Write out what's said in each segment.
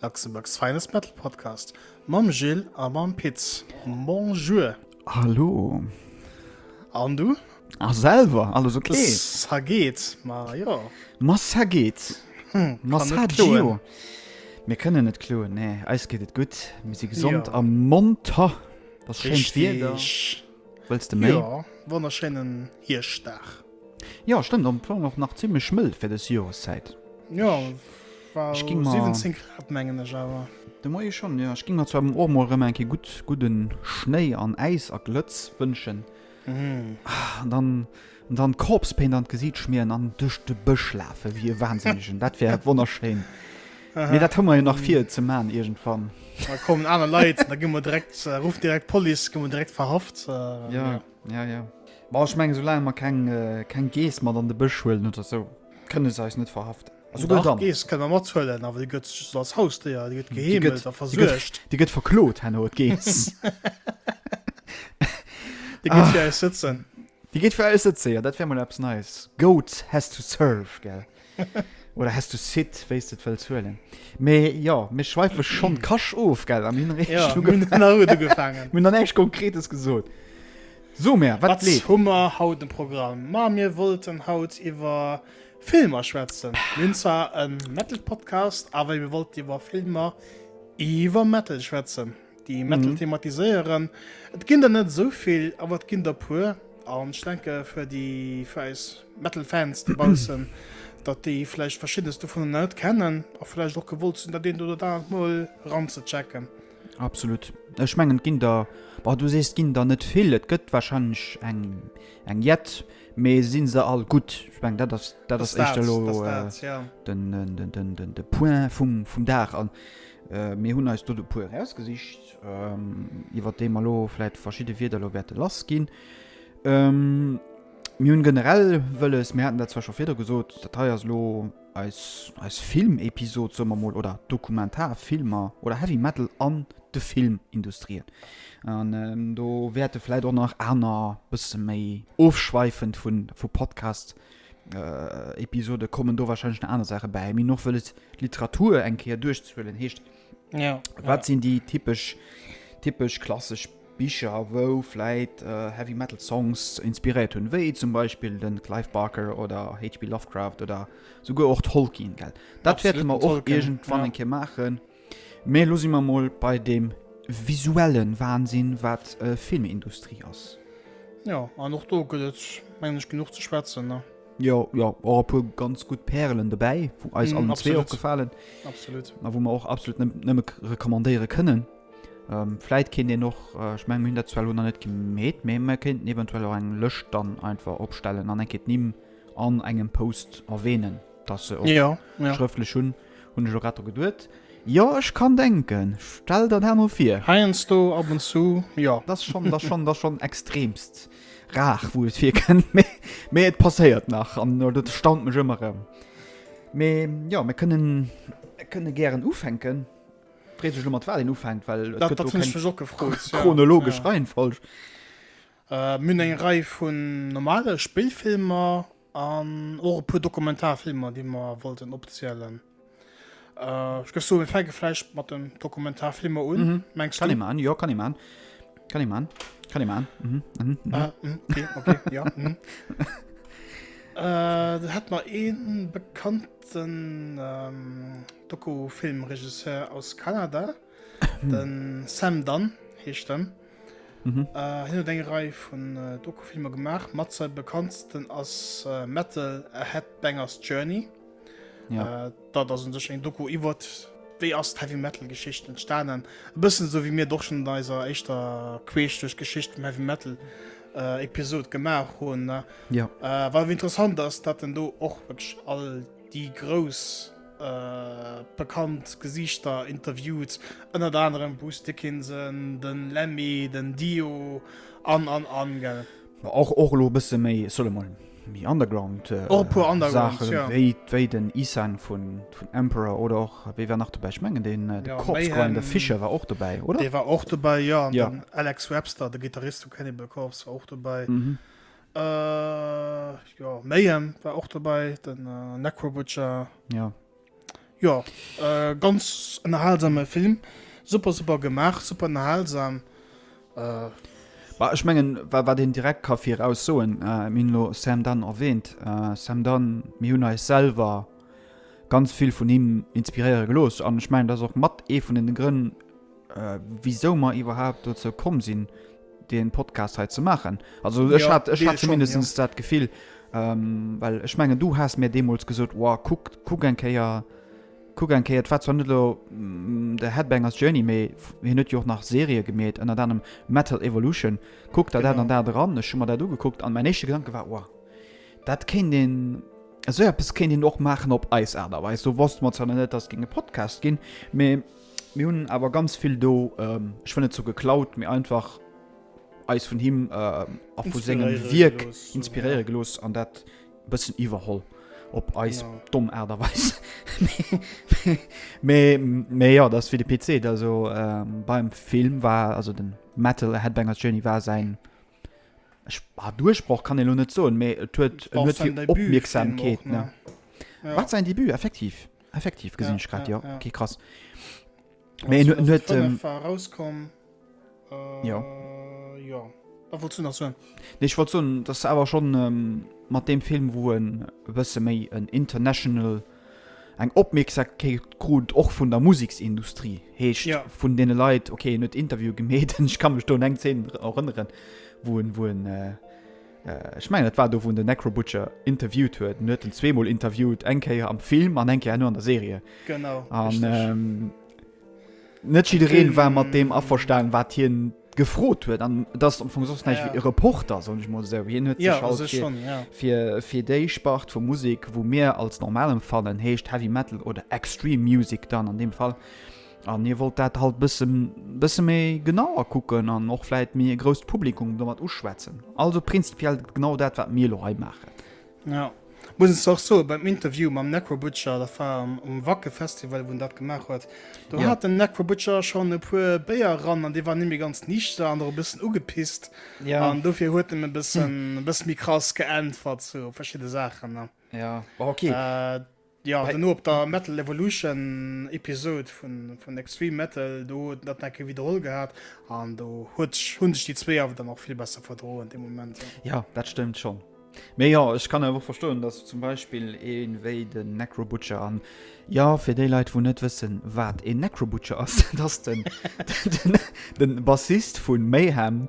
Luxembourg's finest metal podcast mam Gil a mam Piz. Bonjour. Hallo. An du? Ah, selber, alles okay. Sa geht, ma ja. Ma sa geht. Hm, ma sa gio. Mir können net kloen, nee, eis geht et gut. Mir si gesund ja. am Monter. Das schenkt dir. Wëlls de méi? Jo, wonnerschéinen Hierschtdag. Jo, stëmmt, am Fong och nach zimlech mëll fir dës Joreszäit. Jo, war elo 17 Grad mengen ech awer. De Moie schonn, jo. Ech géing mer zwar och mol erëm eng Kéier gutt gudden Schnéi an Äis a Glëtz wënschen. Dann. An dann Corpse Paint an d'Gesiit schmieren an duerch de Bësch lafe wéi e Wahnsinnegen. Dat wär wonnerschéin. Mee dat hu mer jo nach fir ze man iergendwann. Da kommen aner Leit, da gi mer direkt, äh, ruft direkt Police, gi mer direkt verhaft. Äh, ja, ja, ja. ja. Bon, ich meng, solange mer keng, äh, keng Gees mat an de Bësch huelen oder so, kënne se eis net verhaften. Also Dach, dann. Gees kënne mer mathuelen, awer déi gëtt so als Hausdéier, déi gëtt geheemelt a versuergt. Déi gëtt verklot, Hanno, d'Gees. Déi gëtt fir eis sëtzen. Déi geet fir eis net séier, dat wär mol eppes Neies. Goat has to serve, gell? Oder has to sit, wéis de et wëlls huelen. Mee jo, mir schweife schonn kasch of, gell? An hunn eréischt jo, mir hunn nach net ugefaangen. Mir hunn nach näischt Konkretes gesot. So Mer, wat leeft? Wat hu mer haut um Programm? Ma mir wollten haut iwwer Filmer schwätzen. Mir hunn zwar e Metal-Podcast, awer mir wollten iwwer Filmer iwwer Metal schwätzen. déi Metal thematiséieren. Et ginn der net esou vill, awer et ginn der e puer. An ech denke fir déi, fir eis Metal-Fans dobaussen, datt déi vläicht verschiddenes dovun net kennen a vläicht och gewollt sinn, dat eent oder dat anert mol eranzechecken. Absolut. Ech mengen, et ginn der, bon, du sees, et ginn der net vill. Et gëtt warscheinlech eng, eng jett, mee si se all gutt? Ech mengen, dat ass, dat ass éischter elo den, den, den, den, de Point vum, vum Dag. An. Mir hunn eis do e puer erausgesicht, iwwer déi mer lo vläit verschidde Wieder lo wäerte lassginn. Mir hunn generell wëlles, mir haten dat zwar scho virder gesot, dat hei ass lo eis, eis Filmepisod, soe mer mol, oder Dokumentarfilmer oder Heavy Metal an de Filmindustrien. An do wäerte vläit och nach aner, bësse méi ofschweifend vu Podcast äh, Episode kommen do wahrscheinlich nach andere Sachen bei mir noch will es Literatur eng Kehr durchzuhöllen hecht ja, was ja. sind die typisch typisch klassisch Bicher wo vielleicht äh, heavy metal Songs inspiriert hun wie zum Beispiel den Clive Barker oder HP Lovecraft oder sogar auch Tolkien geld dat werden wir auch irgendwann ja. machen. Mee elo si mer mol bei deem visuellen Wahnsinn, wat Filmindustrie ass. Jo, an och do gëtt et, mengen ech, genuch ze schwätzen, ne? Jo, jo, och e puer ganz gutt Pärelen dobäi, wou eis allen zwee och gefalen. Absolut. Absolut. A wou mer och absolut nëmme recommandéiere kënnen. Vläit kéint een och, ech menge mir hunn dat zwar elo nach net gemeet, mee mir kéinten eventuell och eng Lëscht dann einfach opstellen an eng Kéier d'Nimm an engem Post erwähnen. dass se och ja, ja. schrëftlech hunn, hunn ech Loretto geduet. Jo ech kann denken, stell der Hermo fir. Heiens do ab und zu jo. Dat schon dat schon dat schon extremst rar, wou et virkënnt méi méi et passéiert nach an no dat staunt mech ëmmer erëm. Mee jo mir kënnen kënne gären ufänken. Freet sech lo mat wat een ufänkt, well et gëtt do keng chronologesch Reihenfolg. Mir hunn eng Rei vun normale Spillfilmer an och e puer Dokumentarfilmer, déi mer wollten opzielen. Ech géif soen, mir fänke vläicht mat den Dokumentarfilmer un, mengs du? Kann ee man, jo, kann ee man. Kann ee man. Kann ee man. Mhm. Mhm. Mhm. Ah, mm, okay, okay, ja. Mm. Äh, dann hätte mer een bekannten ähm, Dokufilmregisseur aus Kanada, den Sam Dunn heescht den. Mhm. Äh, hien huet eng Rei vun äh, Dokufilmer gemaach. Mat sei bekanntsten ass äh, Metal A Headbanger's Journey. Ja. Äh, dat ass un sech eng Doku iwwer wéi ass d'Heavy Metal Geschicht entstanen. E bëssen so wéi mir doch schon an eiser éischter Queesch duerch Geschicht vum Heavy Metal äh, Episod gemaach hunn. Ne? Ja. Äh, wat awer interessant ass, dat en do och wirklich all déi grouss bekannt Gesiichter interviewt, ënnert anerem Bruce Dickinson, de Lemmy, den Dio an an an gell. Ma och och elo e bësse méi, ech soll emol, méi underground Saache wéi wéi den Ihsahn vu vun Emperor oder och wéi war nach dobäi, ech mengen dee Corpse Grind, de Fischer war och dobäi oder? Dee war och dobäi jo, an den Alex Webster, de Gittarist vu Cannibal Corpse war och dobäi. Äh, jo, Mayhem war och dobäi, den Necrobutcher. Ja. Jo, ganz ënnerhalsame Film. Super, super gemaach, super ënnerhalsam. Bah, ech mengen, wat een direkt ka viraus soen, mir hunn elo Sam Dann erwähnt, Sam Dann, mir hunn eis selwer ganz vill vun him inspiréiere gelooss an ech mengen, dat ass och mat ee vun den Grënn, äh, wieso mer iwwerhaupt dozou komm sinn, den Podcast hei ze machen. Also ech ja, hat, ech hat zumindest schon, ja. dat Gefill, ähm, weil ech mengen du hast mir demos gesot wow, guck, guck en Käier guck en Käier wat net mm, der Headbangers Journey méi hin net joch nach Serie gemet ënner deinem Metal Evolution guckt da dat an da dran ech schon mal dat du geguckt an mein nächste Gedanke war wow, dat kennt den Also ja, das kennt ihr noch machen op Eisart aber so wurst man net das ging Podcast gehen Mir hunn awer ganz vill do, ech wëll net so geklaut, mee einfach eis vun him a vu sengem Wierk inspiréiere gelooss an dat e bëssen iwwerholl op eis domm Aart a Weis. Mee jo, dat ass wéi de Pit seet, also beim Film war, also dem Metal, A Headbanger's Journey war säin, ah, Duerchbroch kann een elo net soen, mee et huet, en huet fir Opmierksamkeet, wat säin Debut, effektiv. Effektiv gesinn ech grad, jo. Ok, krass. Mee en huet. 2005 war erauskomm. Jo. Jo. Wat wollts du nach soen? Nee, ech wollt soen, dass se awer schonn mat deem Film, wou en e bësse méi en international, eng Opmierksamkeet krut, och vun der Museksindustrie. Heescht, vun deene Leit, ok, en huet Interviewe gemeet. An ech ka mech do un eng Zeen erënneren, wou en, wou en. Ech mengen et war do wou en den Necrobutcher interviewt huet. En huet en zweemol interviewt, eng Kéier am Film an eng Kéier herno an der Serie. Genau. An Richteg. ähm, net jiddereen war mat deem averstanen, wat hien gefrot huet. An et ass am Fong soss näischt Ja. wéi e Reporter, soen ech mol esou. Hien huet Ja, sech halt also fir schon, ja. fir, fir déi Spart vu Musek, wou mir als normal empfannen, heescht Heavy Metal oder Extreme Music dann an deem Fall, An hie wollt dat halt bësse bësse méi genauer kucken an och vläit méi e grousst Publikum domat uschwätzen. Also prinzipiell dat genau dat, wat mir elo hei maachen. Jo, muss ech och soen, beim Interview mam Necrobutcher, dat war um Wacken Festival, wou en dat gemaach huet, do hat den Necrobutcher schonn e puer Béier eran an dee war nëmme ganz niichter an och e bëssen ugepisst. An dofir huet en e bëssen e bësse méi krass geäntwert zu verschidde Saachen. Jo, bon, ok. Jo, duerno op der Metal Evolution Episode vun Extreme Metal, do huet en dat nach eng Kéier widderholl gehat, an do hunn sech déi zwee awer dann och vill besser verdroen dee Moment. Jo, dat stëmmt schonn. Mee jo, ech kann awer och verstoen, datt zum Beispill ee wéi den Necrobutcher, an jo, fir déi Leit wou net wëssen, wat een Necrobutcher ass, dat ass den Bassist vu Mayhem,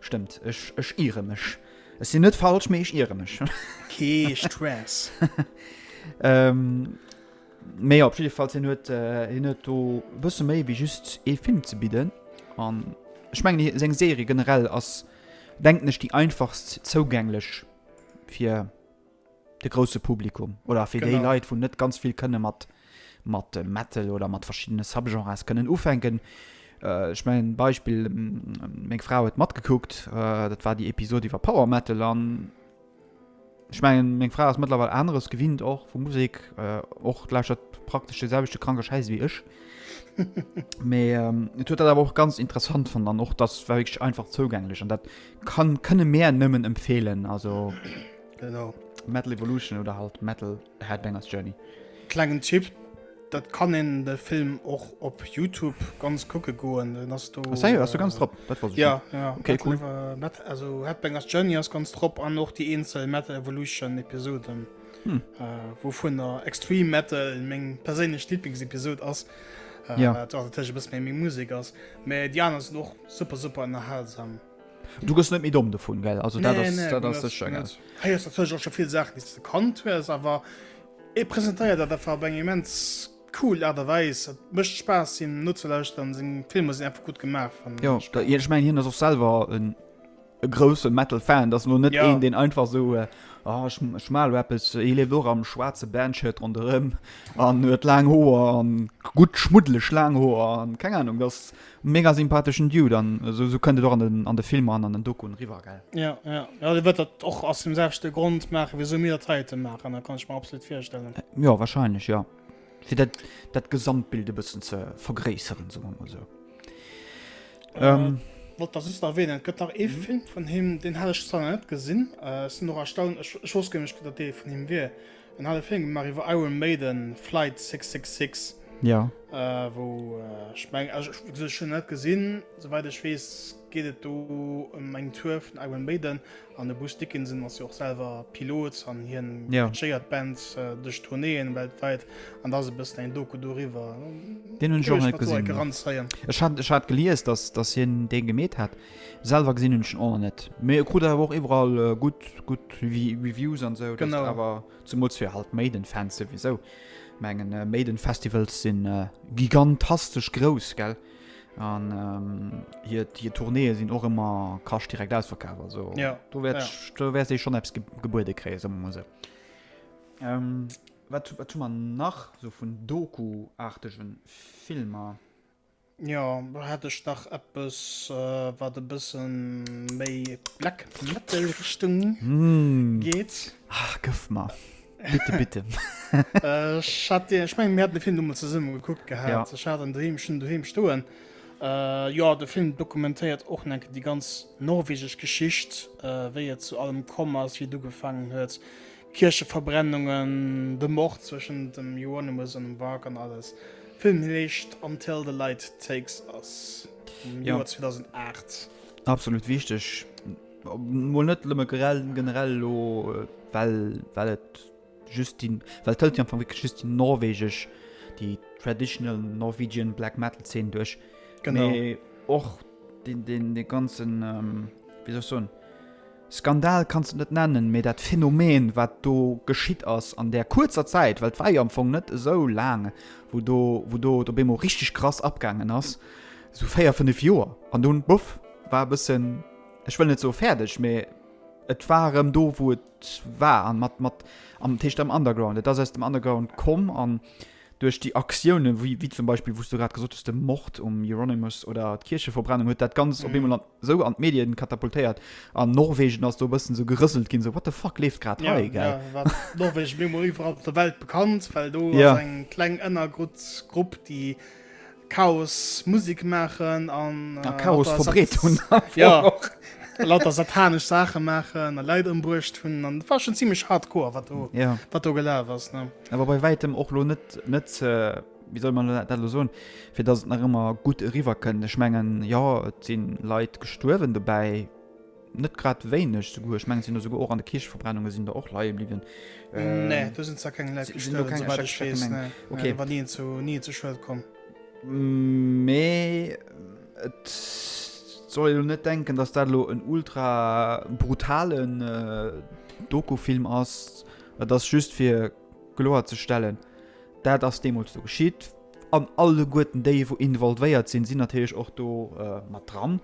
Stëmmt, ech, ech iere mech. Ech sinn net falsch, mee ech iere mech. Kee Stress. ähm, mee ja, op jeden Fall, hien huet, äh, hien huet do bësse méi wéi just ee Film ze bidden. An ech mengen, hie- seng Serie generell ass, denken ech, déi einfachst zougänglech fir De grousse Publikum oder fir déi Leit, wou net ganz vill kënne mat mat Metal oder mat verschiddene Subgenres kënnen ufänken. Ech mengen Beispill meng Fra huet matgekuckt, dat war déi Episod iwwer Power Metal an ech mengen meng Fra ass mëttlerweil aneres gewinnt och vu Musek, och lauschtert praktesch de selwechte kranke Schäiss wéi ech. Mee et huet dat awer och ganz interessant fonnt an och dat war wierklech einfach zougänglech an dat kann kënne mär nëmmen empfeelen also. Genau. Metal Evolution oder halt Metal Headbangers Journey. Klengen Tipp, dat kann een de Film och op Youtube ganz kucke goen. Den ass do. Ah, sérieux, ass du ganz drop? Dat wosst ech Ja, net. ja. Okay, Metal cool. Evo- Met also Headbangers Journey ass ganz drop an och déi eenzel Metal Evolution Episoden. Hm. Äh, wouvun der Extreme Metal meng perséinlech Lieblingsepisod ass. Äh, Ja. Wat awer natierlech e bësse méi meng Musek ass. Mä déi aner sinn och super, super ënnerhalsam. Du gëss net méi domm dovun, gell? Also, dat ass, dat ass sécher, gell? Hei ass natierlech och scho vill Saachen, déi s de kannt hues, awer e presentéiert dat einfach op eng immens cool Aart a Weis. Et mécht Spaass, him nozelauschteren an seng Filmer sinn einfach gutt gemaach, fannen ech. Jo, da, ech mengen, hien ass och selwer en, e grousse Metal-Fan. Dat ass elo net een, deen einfach esou, ah, ech, ech maachen elo eppes. Hie leeft och am schwaarze Band-Shirt ronderëm an huet laang Hoer an gutt schmuddeleg laang Hoer an keng Anung. Dat ass Mega sympatheschen Dude an sou kënnt et och an de Filmer an an den Dokuen riwwer, gell? Jo, jo. Jo, dee wëllt dat och aus dem selwechte Grond maachen, wisou mir dat heiten maachen. Dat kann ech mer absolut virstellen. Jo, wahrscheinlech, jo. Fir dat, dat Gesamtbild e bëssen ze vergréisseren, soe mer mol esou. Wollt der soss nach erwähnen, et gëtt nach ee Film vun him, deen hat ech zwar nach net gesinn. Ech sinn och erstaunt, ech wousst guer net, datt dee vun him wier. En ale Film gemaach iwwer Iron Maiden, Flight 666. Ja. Äh, wou äh, ich mein, also, ich, ich schon net gesinn, soweit ich wees geht et do um eng Tour vun Iron Maiden an de Bus Dickinson ass jo och selber Pilot an hien Ja. coachéiert Band äh, duerch Tournéeën weltweit an da se bëssen eng Doku doriwwer. Den hunn ech och net gesinn. Garanzeieren. Ech hat, ech hat gelies, dass, dass hien dee gemeet hat. Selwer gesinn hunn ech en och nach net, mee e krut awer och iwwerall gutt gutt Reviews an esou. Genau. Awer zemools fir halt Maiden-Fans souwisou. Mengen Maiden-Festivals sinn gigantastesch grouss, gell, an hiert hir Tournéeë sinn och ëmmer quasch direkt ausverkaf, also ja. Do wäert ja. do wäers ee schonn eppes gebuede kréien, soe mer mol esou. Wat wat hu mer nach esou vun Doku-aartegen Filmer? Jo, do hat ech nach eppes, wat e bësse méi Black Metal Richtung geet. Ach, gëff mer. Bitte, bitte. Ech hat deen, ech mengen, mir haten de Film deemools zesumme gekuckt gehat. Ech hat en doheem, schon en doheem stoen. Jo, de Film dokumentéiert och nach eng Kéier déi ganz norwegesch Geschicht, wéi et zu allem komm ass, wéi et ugefaangen huet. Kiercheverbrennungen, de Mord zwëschen dem Hieronymus an dem Varg an alles. Film heescht Until the Light Takes Us vum Joer 2008. Absolut wichteg, mol net lëmme grell generell elo well well et just déi well d'hëlt jo am Fong wierklech just déi norwegesch déi traditional Norwegian Black Metal Zeen duerch, mee och deen deen dee ganzen wéi soll ech soen. Skandal kanns de et net nennen, mee dat Phänomen, wat do geschitt ass an där kuerzer Zäit, well et war jo am Fong net esou laang, wou do, wou do et op eemol richtig krass abgaangen ass, esou véier, fënnef Joer, an dunn, bouf, war e bëssen, ech wëll net soe fäerdeg, mee et war erëm do, wou et war a mat, mat am, dat heescht am Underground, et ass aus dem Underground komm an duerch déi Aktiounen, wéi zum Beispill, wou s de grad gesot hues, de Mord um Euronymous oder d'Kiercheverbrennung, huet dat Ganzt op eemol an. sou an d'Medien katapultéiert an Norwegen ass do e bëssen sou gerëselt ginn, sou what the fuck leeft grad hei, gell? Ja, ja, wat Norwegen nun emol iwwerall op der Welt bekannt, well do ass eng kleng Ënnergrutts Grupp déi Chaos Musik maachen an Chaos verbreet hunn, ja lauter satanesch Saache maachen a Leit ëmbruecht hunn an et war schonn zimlech hardcore wat do gelaf ass, ne? Awer bei wäitem och lo net net. wéi soll man dat lo soen, fir dass et nach ëmmer gutt eriwwer kënnt. Ech mengen, jo, et si Leit gestuerwen dobäi, net grad wéineg souguer. Ech mengen, et sinn do souguer och an de Kiercheverbrennunge sinn der och Leie bliwwen. Nee, do sinn zwar keng Leit gestuerwen, souwäit ech weess. Nee, okay. Do war ni een zu, ni een zu Schued komm. Mee et soll ee lo net denken, dass dat elo en ultra brutalen Dokufilm ass. Et ass just fir. kloerzestellen, dat ass deemools do geschitt. An alleguerten déi, wou involvéiert sinn, sinn natierlech och do mat dran.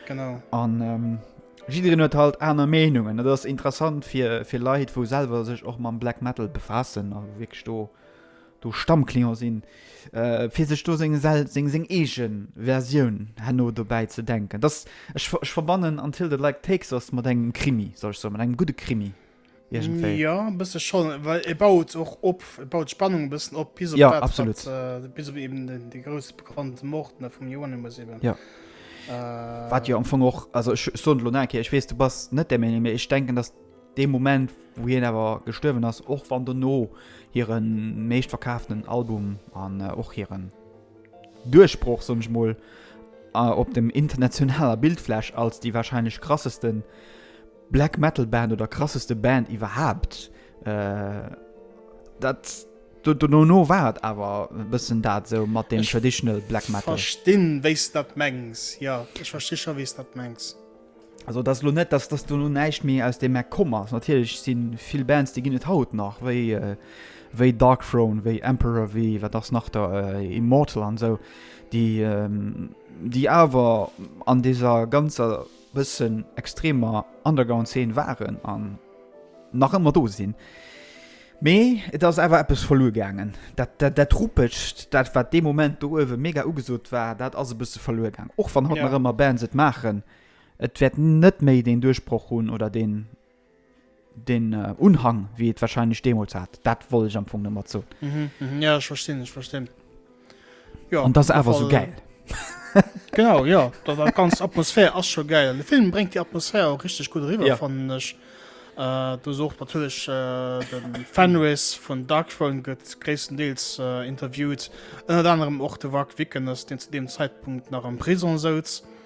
Genau. An ähm, jiddereen huet halt aner Meenungen. Dat ass interessant fir, fir Leit, wou selwer sech och mam Black Metal befassen a wierklech do do Stammklinger sinn, äh, fir sech do seng sel seng seng eege Versioun herno dobäi ze denken. Das, ech, ech verbannen Until the Light Takes Us mat engem Krimi, soll ech soen, mat engem gudde Krimi. Irgendwie. Ja, ein bisschen schon, weil er baut auch ob, er baut Spannung ein bisschen ob, bis auf ja, das, absolut. Was, äh, bis auf eben den, den großen bekannten Mord ne, vom Johann immer sieben. Ja. Äh, was ja am Anfang auch, also ich, so ein ich weiß, du bist nicht der Meinung, ich denke, dass dem Moment, wo hien awer gestëwen ass och wann der no hiren meescht verkaaften Album an äh, och hiren Duerchproch sonch moll äh, op dem internationaler Bildfläch als déi wahrscheinlech krassesten Black Metal Band oder krasseste Band iwwerhaapt. Dat dono war et awer e bëssen dat esou mat deem traditional Black Metal. Ech verstinn, wéi s de dat mengs. Jo, ech versti scho, wéi s de dat mengs. Also et ass elo net, datt datt do elo näischt méi aus deem Eck komm ass. Natierlech si vill Bands, déi ginn et haut nach, wéi wéi Darkthrone, wéi Emperor, wéi wat ass nach do, Immortal an esou, déi déi awer an deser ganzer. bëssen extremer Underground Szene waren an nach ëmmer do sinn, mee et ass awer eppes verluer gaangen. Dat dat Ruppegt, dat wat dee Moment do uewe mega ugesot war, dat ass e bësse verluer gaangen. Och wann haut nach ëmmer Bands et maachen, et wäert net méi deen Duerchbroch hunn oder deen. den Unhang wéi et wahrscheinlech deemols hat, dat wollt ech am Fong domat soen. Mhm, mhm, ja ech verstinn, ech verstinn. Jo, an dass awer sou gäil. Genau jo, dat ass ganz Atmosphär ass scho gäil. De Film bréngt déi Atmosphär och richteg gutt eriwwer ja. fannen ech. Äh, do sucht natürlich äh, den Fenris von Darkthrone gött gräessten Deels äh, interviewt ënner anderem och de Wack Wicken ass den zu dem Zeitpunkt nach am Prison souz.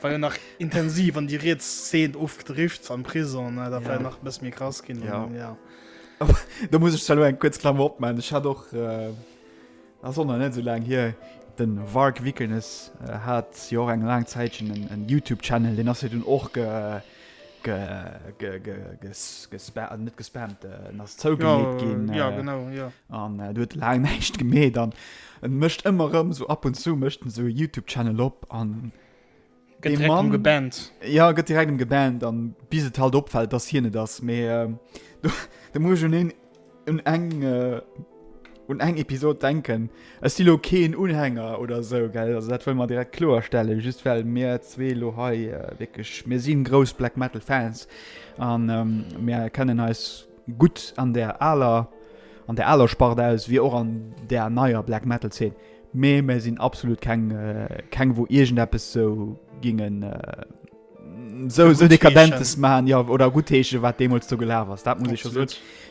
War jo nach intensiv an déi riets Szene ofgedrift am Prison, ne? Dat war jo Ja. nach e bësse méi krass ginn. Ja. an ja. Da muss ech zwar elo eng kuerz Klammer opmaachen. Ech hat och, äh, ass och nach net esou laang hier, den Varg Vikernes äh, hat jo och eng laang Zäitchen en en Youtube-Channel, deen ass jo dunn och ge ge ge ge ges gespa also net gespammt äh, en ass zougemeet ginn ja, äh, genau, ja. an äh, du huet laang näischt gemeet an en mécht ëmmer rëm so ab und zu mécht en so e youtube channel op an Gëtt Dee direkt Mann- umgebannt. ja gëtt direkt em gebannt an bis et halt opfällt dass hien et ass mee ähm, do, do muss ech un een un eng äh, un eng Episod denken. Ech si lo keen Unhänger oder so gell. Also dat wëll man direkt kloerstelle, just well mir zwee lo hei äh, wkech mir sinn grouss Black Metal Fans an ähm, mir kennen eis gutt an der aler an der aler Spart aus wie och an der neier Black Metal Zeen. Mee mir sinn absolut keng äh, keng wou irgendeppes so gingen äh, So, so dekadentes man ja oder gut heesche wat demols du gelaf ass dat muss ich so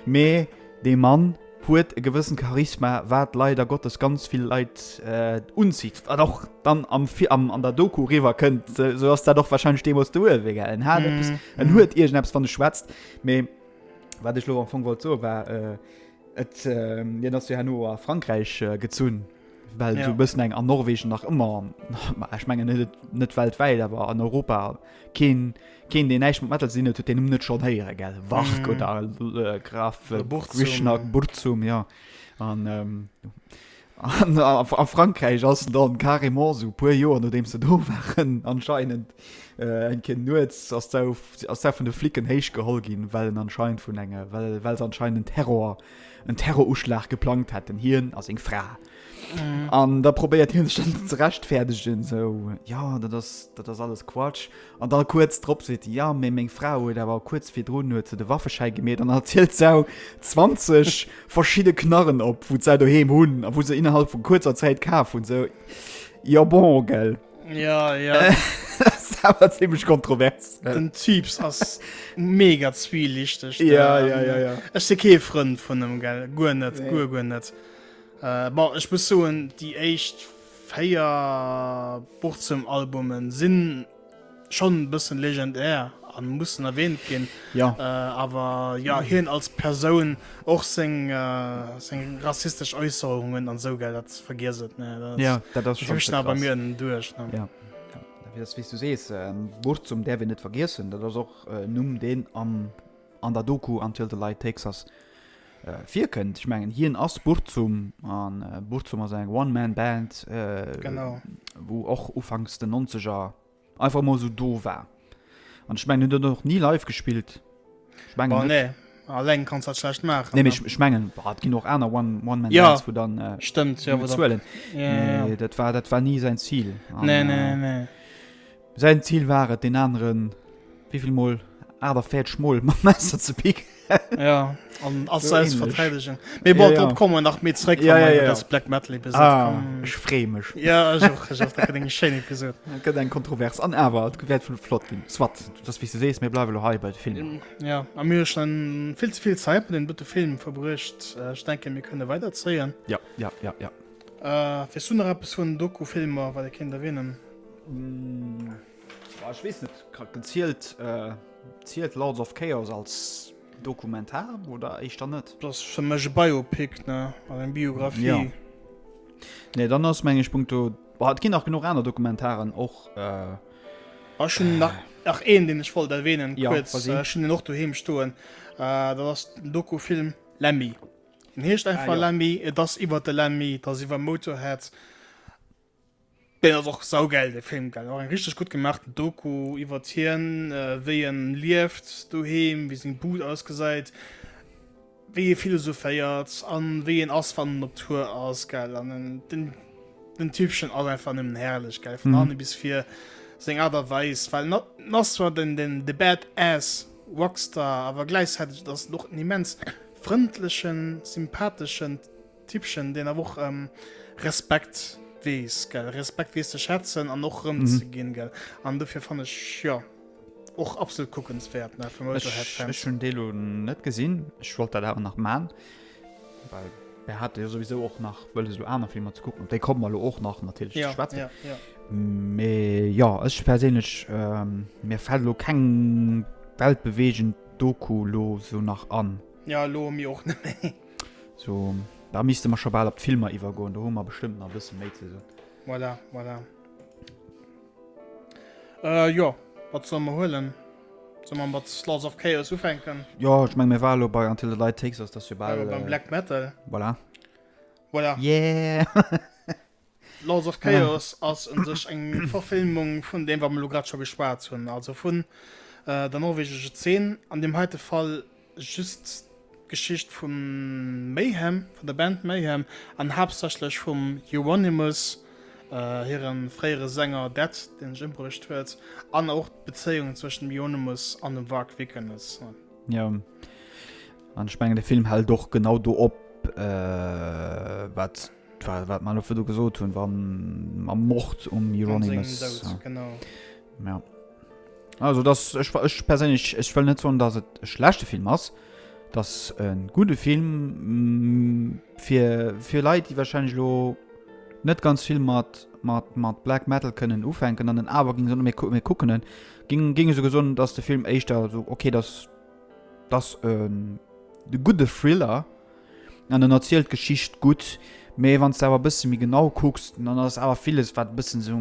mee de Mann huet e gewëssen Charisma wat leider Gottes ganz viel Leiit äh, unzieht wat och dann am, am an der Doku riwer kënnt äh, so ass dat doch wahrscheinlich demols du wege en hat mm. en huet ir schnaps van de schwätzt mee wat ich lo am Fong wollt so war äh, Et hien ass jo herno a Frankräich gezunn, well esou e bëssen eng an Norwegen nach ëmmer ech menge net net Weltäit, awer an Europa keen keen deen näischt mat Metal ze dinn huet, huet deen Numm net schonn héiere gell. Warg oder Graf Burzum, ja an. An a Frankräich ass en dann carrément esou e puer Joer nodeems se do waren anscheinend eng Kéier nuets ass d'Sau ass d'Sau vun de Flicken héich geholl ginn, well en anscheinend vun enge well well se anscheinend en Terror en Terroruschlag geplangt hätten, hien a seng Fra. An da probéiert hie sech dann ze rechtfäerdegen, esou, Jo, dat ass dat ass alles Quatsch. An da kuerz drop seet déi, ja, mee meng Fra huet awer kuerz virdrun huet se de Waffeschäi gemeet an erzielt d'Sau 20 verschidde Knarren op, wou d'Sau doheem hunn a wou se innerhalb vu kuerzer Zäit kaf hunn. Sou, jo bon, gell. Jo, jo. Ass awer zimmlech kontrovers. Den Typ ass mega zwielichteg. Jo, jo, jo, jo. Ech si kee Frënd vun em, gell, guer net, guer, guer net. Bon, ech muss soen, déi éischt. Véier Burzum-Albumen sinn schonn e bëssen legendär an mussen erwähnt ginn. Jo. Awer jo, hien als Persoun, och seng rassistesch Äusserungen an esou, gell, dat vergiess et, ne. Jo, dat ass schonn ze krass. Bei mir en duerch, ne. Jo. Jo, dat ass wéi s du sees, Burzum däerf een net vergiessen. Dat ass och en Numm, deen an der Doku Until the Light Takes Us Vir kënnt. Ech mengen hien ass Burzum an Burzum ass eng One Man Band wou och ufangs den nonzeger einfach mo so do war. An ech mengen huet och nie live gespillt. Ech mengen, oh, nee. Alleng kann dat schlecht machen. Nee, ich, ich mengen hat gin och einer One, One Man ja. wo dann äh, stimmt ja, wo zuelen. Ja, ja. Nee, dat war dat war nie sein Ziel. An, nee, nee, äh, nee. Säin Zil war et, deen aneren, wéi vill Mol? 48 Mol mam Messer ze picken. Ja, an ass So eis ähnlech. Verteidigung. Mee Ja, bon, ja. drop kommen wir nach méi zréck, Ja, wann ja, mer jo ja. dës Black Metal Episode Ah, kommen. ech free mech. Ja, ech och, ech och, dat gëtt eng schéin Episode. Dat gëtt eng kontrovers, an awer et wäert vun flott ginn. Soit, dass wéi s du sees, mir bleiwe lo hei bei de Filmer. Ja, a mir hu schon vill ze vill Zäit mat den dote Film verbruecht. Äh, Ech denke mir kënne weiderzéien. Ja, ja, ja, ja. Äh, Fir Sunner eppes vun Doku-Filmer, wat e kéint erwähnen? Ech weess net, zielt zielt Lords of Chaos als Dokumentar oder éischter net? Dat ass fir mech e Biopic, ne? Also eng Biographie. Jo. Nee, dann ass, meng ech, punkto. Bon, et ginn nach genuch aner Dokumentaren och. A ech hunn nach, nach een, deen ech wollt erwähnen, kuerz. Jo, vas-y. Ech hunn deen och doheem stoen. Dat ass den Dokufilm Lemmy. En heescht einfach Lemmy. Ah, jo. Et ass iwwert de Lemmy, et ass iwwer Motorhead. Den ass och saugeil de Film gang eng richtig gut gemachten Doku iwwer hien äh, wéi en lieft doheem, wéi seng Bud ausgesäit, wéi e philosophéiert an wéi en ass wann en op Tour ass gell an en den den Typchen ass einfach nëmmen herrlech gell vun hanne bis vir seng Aart a Weis well na nass war den den de Bad Ass Rockstar awer gläichzäiteg ass en och en immens frëndlechen sympatheschen Typchen deen awer och ähm, Respekt wees gell Respekt wees ze schätzen an och rëm ze ginn gell an dofir fan ech ja och absolut kuckenswert ne für Motorhead Ech Fans. hun dee lo net gesinn, ech wollt dat awer nach man, well mir hate jo souwisou och nach wëlles lo aner Filmer ze kucken, op déi komme mer lo och nach natierlech ze Ja, schwätzen. ja, ja. Mee jo, ech perséinlech, ähm, mir fält lo keng weltbeweegend Doku lo sou nach an. Ja, lo mir och net méi. So, da misste mer scho bal op d'Filmer iwwergoen, do hu mer bestëmmt a bësse méi ze soen. Voilà, voilà. Äh, jo, wat soll mer huelen? Soll mer mat Lords of Chaos ufänken? Jo, ech meng mir war lo bei Until the Light Takes Us, dat ass jo bal. Äh, beim Black Metal. Voilà. Voilà. Yeah! Lords of Chaos ass un sech eng Verfilmung vun deem, wat mer elo grad scho geschwat hunn, also vun der norwegescher Zeen, an deem heite Fall just d'Geschicht vum Mayhem, vun der Band Mayhem an haaptsächlech vum Euronymous, hire fréiere Sänger Dead, dee sech ëmbruecht huet, an och d'Bezéiung zwëschent dem Euronymous an dem Varg Vikernes. Jo, an ech mengen de Film hält och genau do op, wat. D'war wat mer elo virdu gesot hunn, wa mam Mord um Euronymous. Ja. Also dat ech war ech perséinlech ech wëll net soen, datt et e schlechte Film ass. Dat ass e gudde Film mm, fir fir Leit, déi warscheinlech elo net ganz vill mat mat mat Black Metal kënnen ufänken, an en awer ginn soen, mir kucken en, géing géing ech esouguer soen, datt de Film éischter esou okay, datt Et ass e gudde Thriller an en erzielt d'Geschicht gutt. Mee wann s de awer e bësse méi genau kucks, dann ass awer villes, wat e bëssen esou,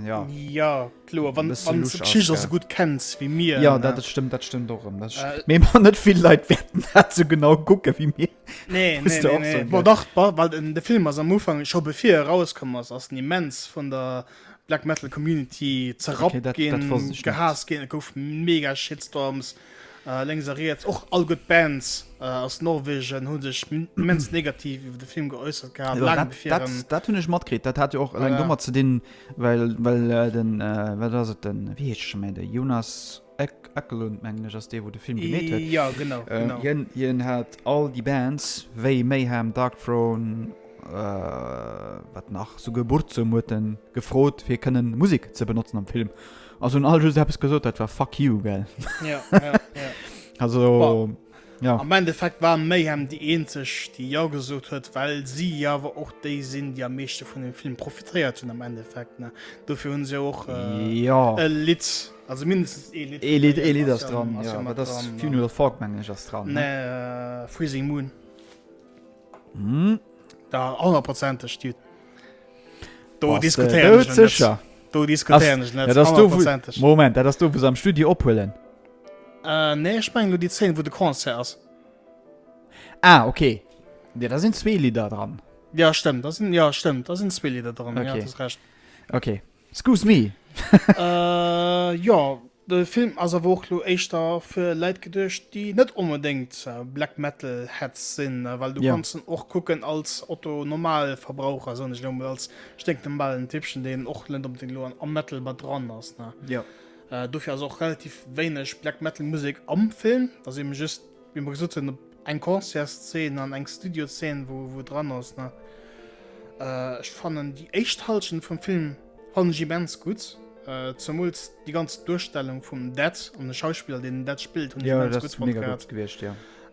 jo. Jo, kloer, wann s de d'Geschicht och esou gutt kenns wéi mir. Jo, dat stëmmt, dat stëmmt och erëm. Mee bon, net vill Leit wäerten dat esou genau kucke wéi mir. Nee, nee, nee, nee. Bon, dach, de Film ass am Ufank, scho bevir e rauskomm ass, ass en immens vun der Black Metal Community zerrapp okay, dat, gehen, dat gehas gehen gouf mega Shitstorms äh, lenks erreets och all gut Bands äh, aus Norwegen hun sech mens negativ iw de Film geäußert gehabt ja, dat, dat, dat hun ech matkrit dat hat och ja. dummer ze dienen weil, weil äh, den äh, wat den wie schon de Jonas Eklund mengen ech ass dee wou de Film gemeet huet. Ja genau, äh, genau. Hien, hien hat all die Bands wéi Mayhem, Dark Throne, äh, wat nach so Geburt zum hueten gefrot fir kënnen Musik ze benotzen am Film. Also un all just Apps gesot, dat war fuck you gell. Ja, ja, ja. Also Boah. Ja. Am Endeffekt war Mayhem déi eenzeg, déi ja gesot huet, well si awer och déi sinn, déi am meeschte vun dem Film profitéiert hunn am Endeffekt. Ne? Dofir hunn se och äh, ja. e Lied, also mindestens e Lied. E Lied, e Lied ass dran, ja, ja das dran, Funeral of Fog, meng ech, ass dran. Ne, äh, Freezing Moon. Hm. Da 100 Prozent der Stiet. Do diskutéieren ech net. Do diskutéieren ech net. Moment, dat ass do, wo se am Studio ophuelen. Äh, nee, ech mengen elo déi Zeen, wou de Concert ass. Ah, ok. Jo, da sinn zwee Lidder dran. Jo, stëmmt, da sinn, jo, stëmmt, da sinn zwee Lidder dran, jo, du hues Recht. Ok, excuse me. Äh, jo, de Film ass awer och elo éischter fir Leit geduecht, déi net onbedéngt Black Metal-Heads sinn, well du kanns en och kucken als Otto-Normalverbraucher, soen ech elo emol, als sténknormalen Typpchen, deen och net onbedéngt elo am Metal mat dran ass, ne? Jo. Dofir ass och relativ wéineg Black Metal Musek am Film, et ass eben just wéi mer gesot hunn eng Concertszeen an eng Studiozeen wou dran ass. Ech fannen déi éischt Halschent vum Film fannen ech immens gutt, zemools déi ganz Duerstellung vum Dead an de Schauspiller deen den Dead spillt hunn ech immens gutt fonnt gehat.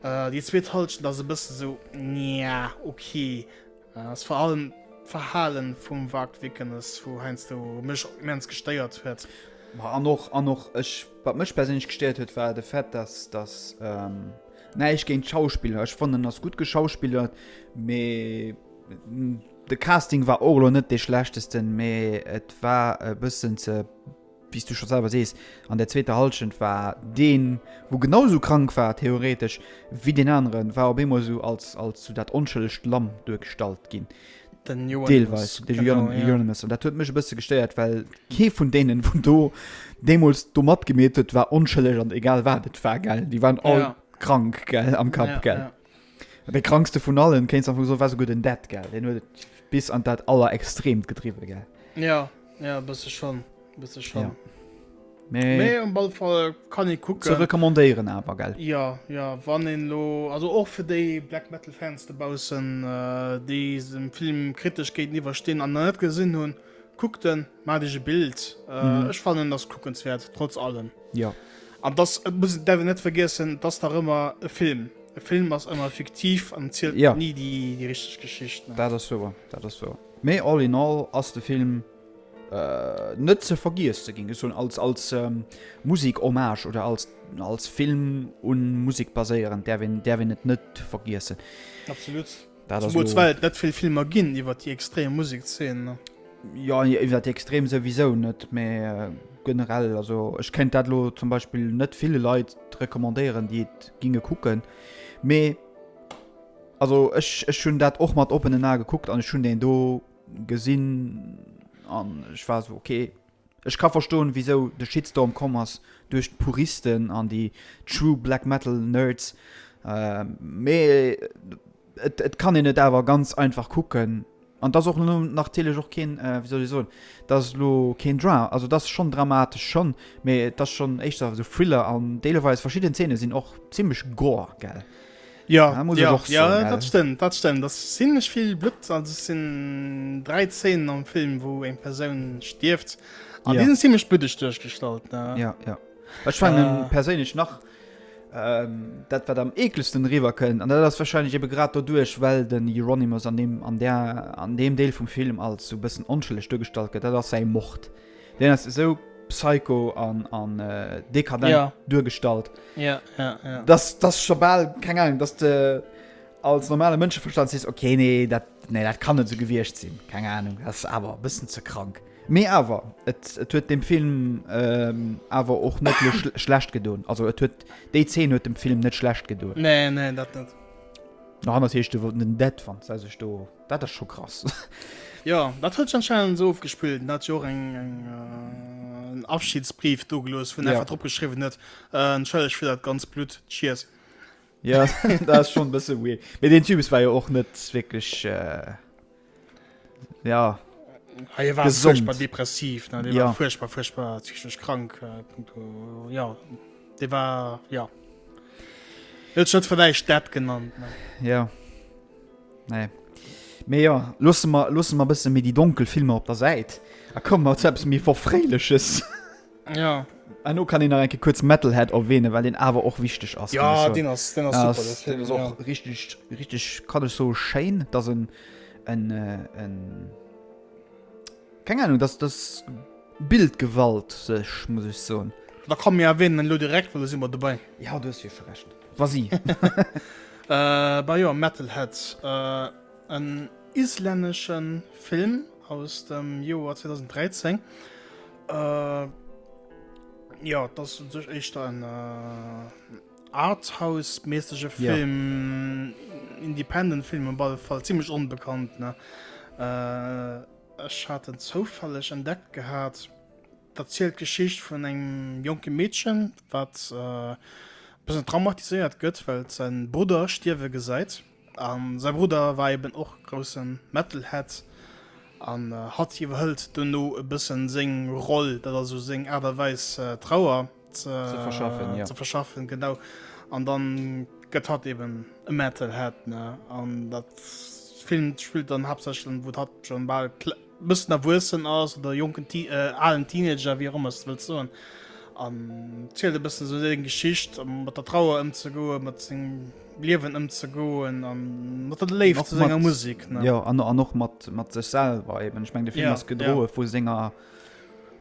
Déi zweet Halschent ass e bësse sou, nja, ok. Et ass vor allem d'Verhalen vum Varg Vikernes wou heiansdo mech immens gestéiert huet. Ma an och an och ech wat mech perséinlech gestéiert huet war de Fait dass dass näischt géint d'Schauspiller, ech fannen en ass gutt geschauspillert mee de Casting war och elo net dee schlechtesten mee et war e bëssen ze Wéi s du scho selwer sees, an der zweeter Hallschent war deen, wou genau esou krank war, theoretesch, wéi deen aneren, war op eemol esou als esou dat onschëllegt Lamm duergestallt ginn. Deelweis. De Euronymous. An dat huet mech e bësse gestéiert, well kee vun deenen, wou do deemools do matgemeet huet, war onschëlleg an egal wat et war, gell? Déi waren all krank, gell, am Kapp, gell? An dee krankste vun allen, kéinst einfach soen, war souguer den Dead, gell? Deen huet et bis an dat Allerextreemt gedriwwen, gell? Ja, ja, e bësse schonn, e bësse schonn. Ja. Mee, Mee um alle Fall kann ee kucken. Ze recommandéieren awer, gell? Ja, ja, wann een lo, also och fir déi Black Metal Fans dobaussen, äh, déi dem Film kritesch géinteniwwer stinn an nach net gesinn hunn, kuckt en. Maa dech e Bild, ech fannen ass kuckenswert trotz allem. Jo. An dass et muss däerf een net vergiessen, dass dach ëmmer e Film, e Film ass ëmmer fiktiv an zielt ni déi richteg Geschicht. Dat ass wouer, dat ass wouer. Mee all in all ass de Film net ze vergiesse ginn, gesot hunn als als Musek-Hommage oder als als Film un Musek baséierend däerf een däerf een et net vergiessen. Absolut. Dat ass Zumools lo- well et net vill Filmer ginn iwwer déi extrem Musekszeen, ne? Jo, iwwer déi extrem souwisou net, mä generell. Also ech kéint dat lo zum Beispill net ville Leit recommandéieren, déi et ginge kucken. Mä also ech, ech hunn dat och mat oppenen Ae gekuckt an ech hunn deen do gesinn an ech war esou, ok. Ech ka verstoen wisou de Shitstorm komm ass duerch d'Puristen an déi true Black Metal Nerds, mee et kann een et awer ganz einfach kucken an et ass och elo natierlech och keen, wéi soll ech soen, et ass elo keen Dra, also et ass schonn dramatesch schonn, mee et ass schonn éischter esou Thriller an deeleweis verschidden Zeene sinn och zimmlech gore, gell. Ja, ja, muss ja, ja so, dat stëmmt, dat stëmmt. Dat ziemlich vill Blut also sinn drei Zeen am Film, wou eng Persoun stift. An ja. ziemlich buddeg durchgestalt. Ja, ja. ja. Ech fan äh, perélech nach ähm, dat wat am ekelsten riwer kënnen. an dat ass wahrscheinlich ebe grad doduerch, well den Hieronymus an dem, an der, an dem Deel vum Film als so bëssen onschëlleg dugestaltet, dat ass sei Mocht. Deen ass esou psycho an, an äh, dekadent Ja. duergestallt. Ja, ja, ja. Das, das scho bal, keng Ahnung, dass de als normale Mënscheverstand sees, okay, nee, dat, nee, dat kann net so gewiescht sinn. Keng Ahnung, das ass awer e bëssen ze krank. Mee awer, et, et huet dem Film ähm, awer och net lo schl schlecht gedoen. Also et huet, déi Zeen huet dem Film net schlecht gedoen. Nee, nee, dat net. Nach anders heescht de Wort den Dead, wann se sech do Dat ass scho krass. Jo, dat huet sech anscheinend esou ofgespillt. En hat jo och eng, eng, äh, en Afschidsbrief dogelooss, wou en Ja. einfach drop geschriwwen huet, äh, Entschëllegt fir dat ganz Blutt. Cheers. Ja, dat ass schonn e bësse weird. Mee deen Typ war jo och net wierklech, äh, ja, Hire war Gesond. fuerchtbar depressiv, ne? Dee Ja. war fuerchtbar, fuerchtbar psychesch krank. äh, punkto, Ja, dee war, ja. Huet sech net fir näischt Dad genannt, ne? ja. Nee. Mee jo, loosse mer, loosse mer bësse méi déi donkel Filmer op der Säit a komme mat zu eppes méi Verfréileches. Ja. An no kann een nach enke kuerz Metalhead erwähnen, well deen awer och wichteg ass. Ja, Also, den ass, den ass super, den ass- Film. den ass ja. och richtig, richtig, kann ech so schéin, dass en, en, äh, en, keng Ahnung, dass das Bildgewalt sech, muss ich soen. Da kann mir erwähnen, lo direkt, well da si mer dobäi. Ja, du hues jo scho Recht. Wa si. Bei jo Metalhead, en islännesche Film aus dem Joer 2013. Jo dat ass un sech éischter en Arthouse-mässege Film, independent Film op alle Fall, zimlech onbekannt. Ech hat en zoufälleg entdeckt gehat. Dat zielt d'Geschicht vun engem jonke Meedchen, wat e bëssen traumatiséiert gëtt, well et säi Brudder stierwe gesäit. A säi Brudder war eben och grousse Metalhead an hatt iwwerhëlt duerno e bëssen seng Roll. Dat ass esou seng Aart a Weis, Trauer ze verschaffen, ja. ze verschaffen genau an dann gëtt hat eben e Metal hat ne an dat Film spielt dann hauptsächlich wo hat schon ball muss erwussen ass oder jonken T äh, allen Teenager wie rum es willst so an an zielt e bisschen so den Geschicht um, mat der Trauer ëm ze goe mat sinn Liwen ëm ze goen an mat der Leif zu senger Musik ne? ja an an och mat mat sech selber eben ich mein de Film ja, ass gedroe ja. vu senger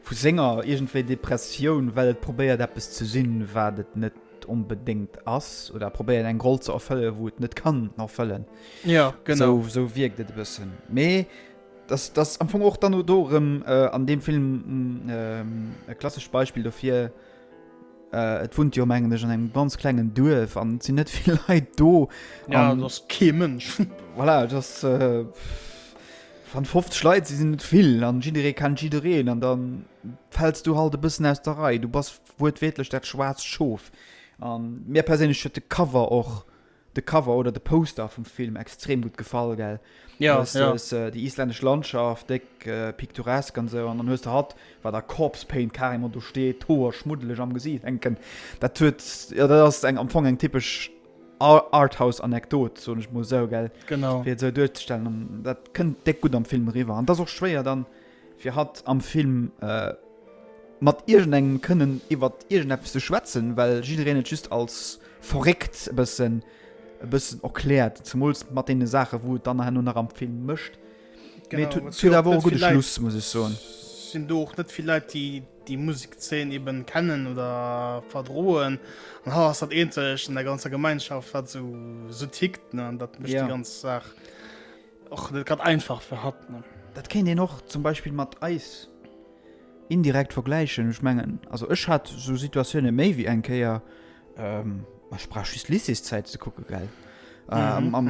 Vu senger iergendwéi Depressioun, well et probéiert eppes ze sinn, wat et net onbedéngt ass, oder probéiert eng Roll ze erfëllen, wou et net kann erfëllen. Jo, genau. Esou, esou wierkt et e bëssen. Mee dass, dass am Fong och dann do erëm an deem Film e klassescht Beispill dofir, Et wunnt jo mengen ech an engem ganz klengen Duerf an sinn net vill Leit do ja, um, ass kee Mënsch voilà, das äh, van 50 Schleit sie sind vill an Gidere kann Gideen an dann fällst du halt de bëssen aus der Rei du bass wuet wetlech dat schwarz schoof an mir persinnlech huet de Cover och De Cover oder de Poster vum Film extrem gutt gefall gell ja, ja. Ist, äh, die islännesch Landschaft deck äh, piktoresk an se an dann hues du hat war der Corps Paint Karimmer du steet hoer schmuddeleg am Gesicht enken dat huet ja, dat ass eng amfang eng typesch Arthaus anekdot so ich muss so gell genau fir ze duerchstellen dat kënnt deck gut am Film riwer an das och schwéier dann. fir hatt am Film mat iergendengem kënnen iwwert iergendeppes ze schwätzen, well jiddereen et just als verréckt e bëssen, e bëssen erkläert, zemools mat deene Saache wou et dann herno nach am Film mécht. Mee et huet, et huet awer och e gudde Schluss, muss ech soen. Et sinn do och net vill Leit, déi déi Musekszeen eben kennen oder verdroen, an hatt ass dat eenzegt an der ganzer Gemeinschaft, wat esou tickt, ne, an dat mécht déi ganz Saach. Och net grad einfach fir hatt, ne? Dat kéint een och zum Beispill mat eis indirekt vergläichen. Ech mengen, also ech hat esou Situatioune méi wéi eng Kéier. Ech brauch just Lycéeszäit ze kucken, gell? Am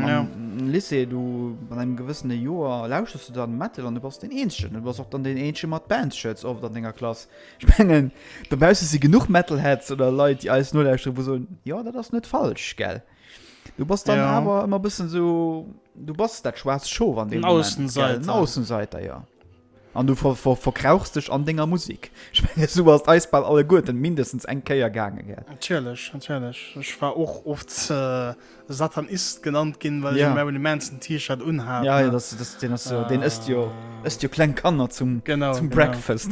Lycée, du an engem gewëssene Joer lauschters du dann Metal an du bass deen Eenzegen. Du bass och dann deen Eenzege mat Bands-Shirts oft an denger Klass. Ech mengen, dobausse si genuch Metalheads oder Leit, déi eis nolauschteren, wou soen, Jo, dat ass net falsch, gell? Du bass dann ja. awer ëmmer bëssen so du bass dat schwaarz Schof an den Aussenseiter. Aussenseiter ja. An du ver, ver, verkrauchs dech an denger Musik. Ich mein, du warst Eisball alle gut den mindestens eng Käier gange ge. Natürlich natürlich Ech war och oft äh, Satanist genannt ginn, weil ja. den manzen T-Shirt unha. Ja, ja das, das, den, das, äh, den ist jo ist jo klein Kanner zum, genau, zum genau. Breakfast.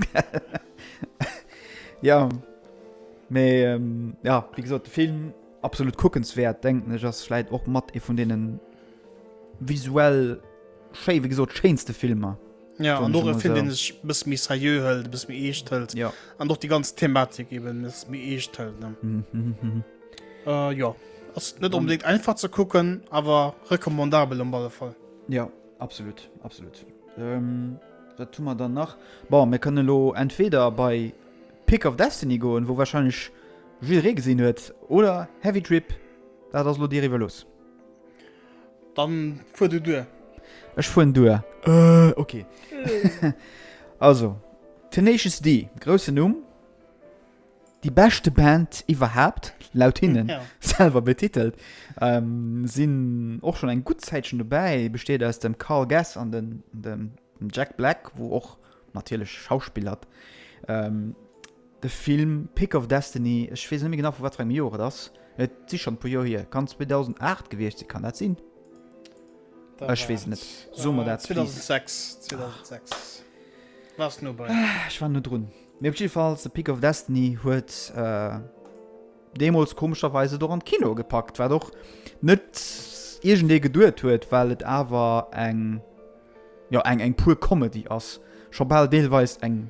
ja. Me ähm, ja wie gesagt, Film Absolut kuckenswäert, denken ech. Ass vläit och mat ee vun deene visuell schéi, wéi gesot, schéinste Filmer. Ja, an och e Film, deen sech e bësse méi seriö hëlt, e bësse méi eescht hëlt. Ja. An och déi ganz Thematik eben e bësse méi eescht hëlt. Ne? Mhm, mhm, mhm. Äh, jo, ass net onbedéngt einfach ze kucken, awer recommandabel am alle Fall. Ja, absolut, absolut. Ähm, wat tun wir dann nach? Bon, wir können lo entweder bei Pick of Destiny goen, wo wahrscheinlich Vill Ree gesin huet oder heavy drip dat ass lo dir iwwerlooss. Dann fuer du duer. Ech fueren duer euh ok also Tenacious D groussen Numm déi beschte Band iwwerhaapt laut hinnen selwer betitelt sinn och schon eng gutt Zäitchen dobäi besteet aus dem Carl Gass an den dem Jack Black wou och natierlech schauspillert. De Film Pick of Destiny, ech weess net méi genau vu wat fir engem Joer et ass, et si schonn e puer Joer hier, kann 2008 gewiescht sinn, kann dat sinn? Ech weess et net, so mer dat please. 2006, 2006, wars no bei. Ech war no drun. Mee op jiddefalls de Pick of Destiny huet deemools komescherweis et och an d'Kinoe gepackt, wat och net iergendee geduet huet, well et awer eng. jo eng eng pure Comedy ass, scho bal deelweis eng